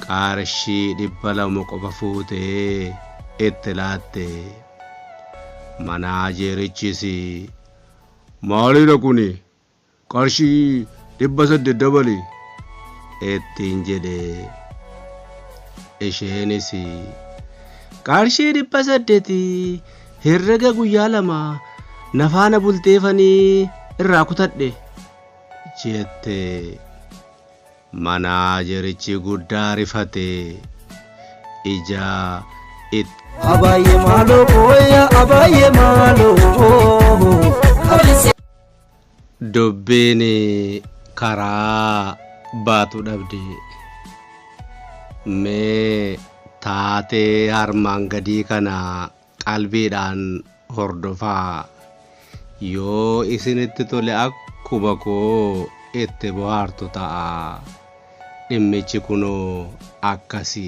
qarshii dhibba lama qofa fuutee itti laatte manaajeerichis maalidha kuni qarshii dhibba saddeet dabali ittiin jedhe isheenis qarshii dhibba saddeeti herrega guyyaa lama na faana bulteefanii irraa kutadhe jette manaajerichi guddaa rifate ija itti Abaye malo boya abaye malo. Dubbiin karaa baatu dhabde. Mee taatee harmaan gadii kana qalbiidhaan hordofaa. Yoo isinitti tole akkuma koo itti bohaartu ta'a. Dhimmichi kunoo akkasi.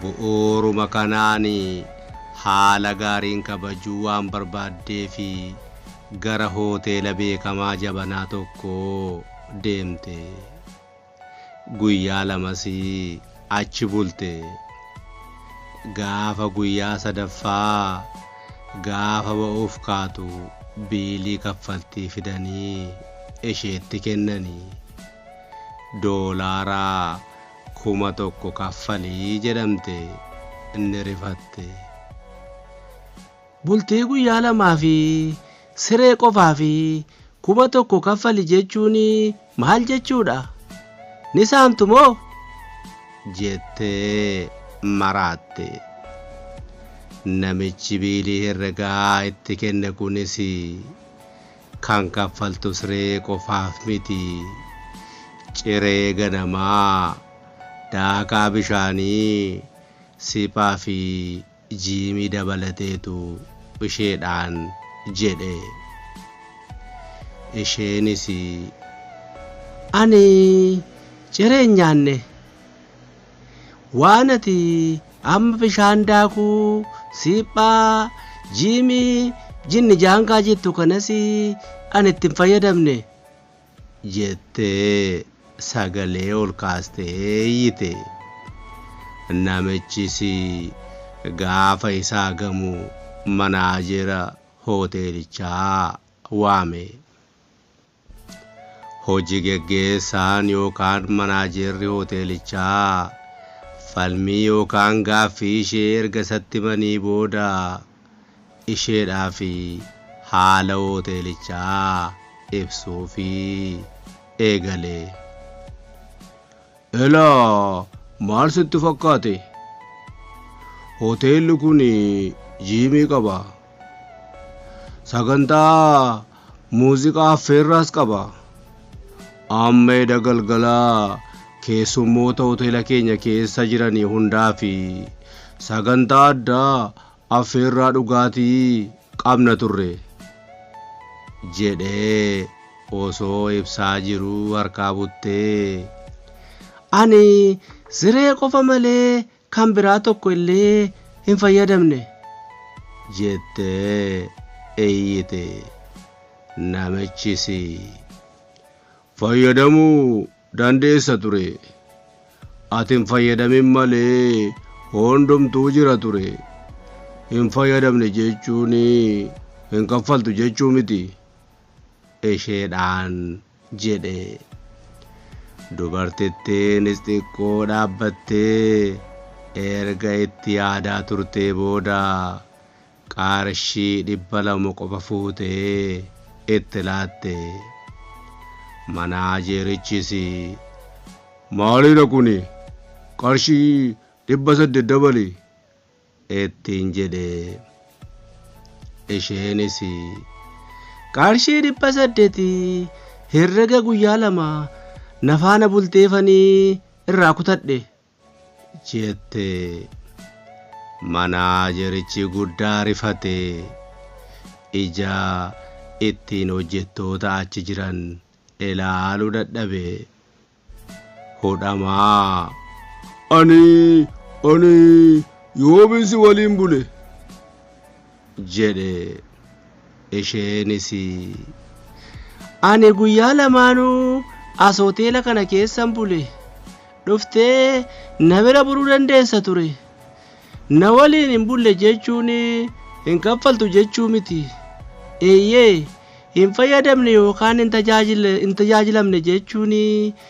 Bu'uuruma kanaan haala gaariin kabajuu waan barbaaddeef gara hoteela beekamaa jabanaa tokkoo deemte. Guyyaa lamas achi bulte. Gaafa guyyaa sadaffaa gaafa ba'uuf kaatu biilii kaffaltii fidanii isheetti kennani. Doolaara Kuma tokko kaffali jedhamte ni rifatte. Bultii guyyaa lamaa fi siree qofaaf kuma tokko kaffali jechuun maal jechuudha? Ni saamtu moo? jettee maraatte. Namichi biilii herregaa itti kenne kunis Kan kaffaltu siree qofaaf miti. Ciree ganamaa, daakaa bishaanii, siphaa fi jiimii dabalateetu isheedhaan jedhe. Isheenis. Ani ciree hin nyaanne. Waan ati amma bishaan daakuu, siiphaa, jiimii, jinni jaangaa jettu kanas ani itti hin fayyadamne. jettee sagalee ol kaastee iyyite. Namichis gaafa isaa gamu manaajera hoteelichaa waame. Hoji geggeessaan yookaan manaajeerri hoteelichaa falmii yookaan gaaffii ishee erga isatti himanii booda isheedhaafi haala hooteelichaa ibsuufii eegale. Elaa maal sitti fakkaate? Hoteelli kun jiimii qaba. Sagantaa muuziqaa affeerraas qaba. Amma eda galgalaa keessummoota hoteela keenya keessa jiranii hundaa fi sagantaa addaa Affeerraa dhugaatii qabna turre. jedhee osoo ibsaa jiruu harkaa buttee. Ani siree qofa malee kan biraa tokko illee hin fayyadamne. jettee iyyite. Namichis fayyadamuu dandeessa ture. Ati hin fayyadamin malee hundumtuu jira ture. Hin fayyadamne jechuun hin kaffaltu jechuu miti. Isheedhaan jedhe. Dubartittiinis xiqqoo dhaabbattee erga itti yaadaa turtee booda qarshii dhibba lama qofa fuutee itti laatte. Manaajeerichis maaliidha kuni qarshii dhibba saddeet dabali ittiin jedhe. Isheenis qarshii dhibba saddeet herrega guyyaa lama na faana bulteefanii irraa kutadhe. jette. Manaajerichi guddaa rifate. Ija ittiin hojjettoota achi jiran ilaalu dadhabe. Hudhamaa. Ani, ani yoomin si waliin bule? jedhe. Isheenis Ani guyyaa lamaanuu as hoteela kana keessan bule. Dhuftee na bira buluu dandeessa ture. Na waliin hin bulle jechuun hin kaffaltu jechuu miti. Eeyyee hin fayyadamne yookaan hin tajaajilamne jechuun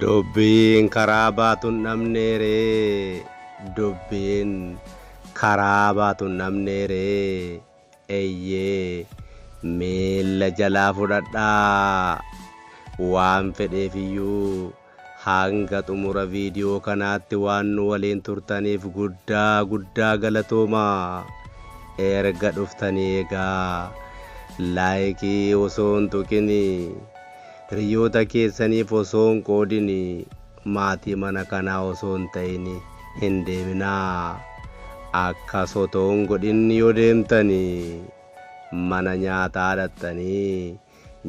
Dubbiin karaa baatu hin dhabnee ree Dubbiin karaa baatu hin dhabnee ree Eyyee miilla jalaa fudhadhaa Waan fedheef iyyuu hanga xumura viidiyoo kanaatti waan nu waliin turtaniif guddaa guddaa galatoomaa Erga dhuftanii egaa Laayikii osoo hin tuqinii Hiriyoota keessaniif osoo hin qoodin, maatii mana kanaa osoo hin ta'in hin deeminaa. Akkas otoo hin godhin yoo deemtan, mana nyaataa dhaqxanii,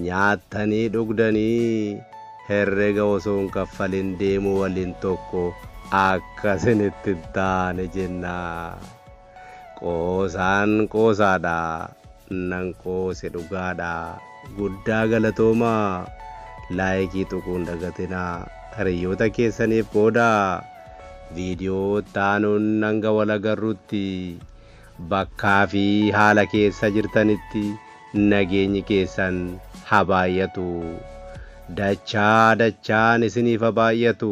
nyaattanii dhugdanii, herrega osoo hin kaffalin deemuu waliin tokko akka isinitti hin taane jenna. Qoosaan qoosaadha nan qoose dhugaadha guddaa galatoomaa laayikii tuquun dagatinaa hariyoota keessaniif qoodaa video taanuun hanga wal agarrutti bakkaa fi haala keessa jirtanitti nageenyi keessan habaayyatu dachaa dachaan isiniif habaayyatu.